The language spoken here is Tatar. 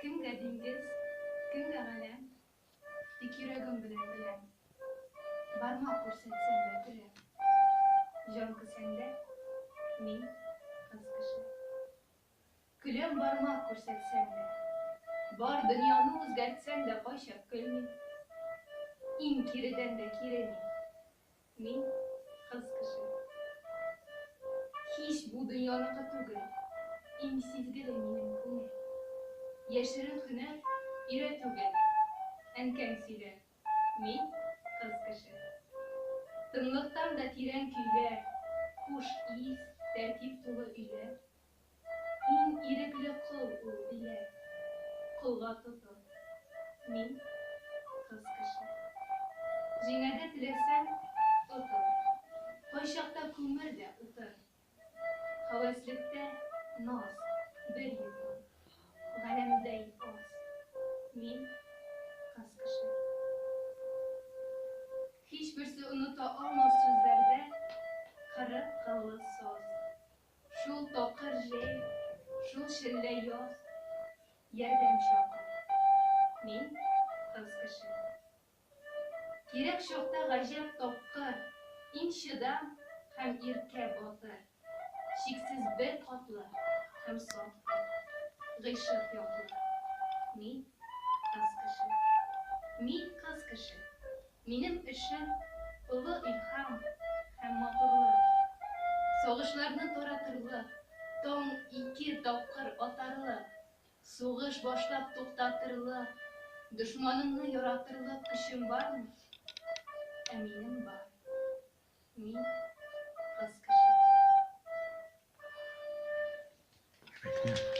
Кемгә диңгез, кемгә галәм, Тик йөрәгем белән беләм. Бармак күрсәтсәң дә көләм. Җан көсәңдә, мин, кыз кеше. Көләм бармак күрсәтсәң дә. Бар дөньяны үзгәртсәң дә Кайчак көлмим. Иң киредән дә кире мин. Мин, кыз кеше. Һич бу дөньяныкы түгел. Иң сизгере минем күңел. Яшерен һөнәр, өйрә түгел. Әнкәң сөйләр. Мин, кыз кеше. Тынлыктан да тирән көйләр, Хуш ис, тәртип тулы өйләр. Иң ирекле кол ул, диләр. Колга тотын. Мин, кыз кеше. Җиңәдә теләсәң, тотын. Кайчакта күмер дә утыр. Хәвәслектә наз, бер йотым. Галәмдәй аз. Мин, кыз кеше. Һичберсе оныта алмас сүзләрдә кырык кыллы саз. Шул такыр җәй, шул челлә яз, Ярдәм чакы. Мин, кыз кеше. Кирәк чакта гаҗәп тапкыр, Иң чыдам һәм иркә батыр, Чиксез беркатлы һәм саткыр, Гыйшык яклы. Мин, кыз кеше. Мин, кыз кеше. Минем өчен олы илһам һәм матурлык. Сагышларны таратырлык, таң ике тапкыр атарлык, сугыш башлап туктатырлык, дошманымны яратырлык көчем бармы? Ә минем бар. Мин кыз кеше. Рәхмәт.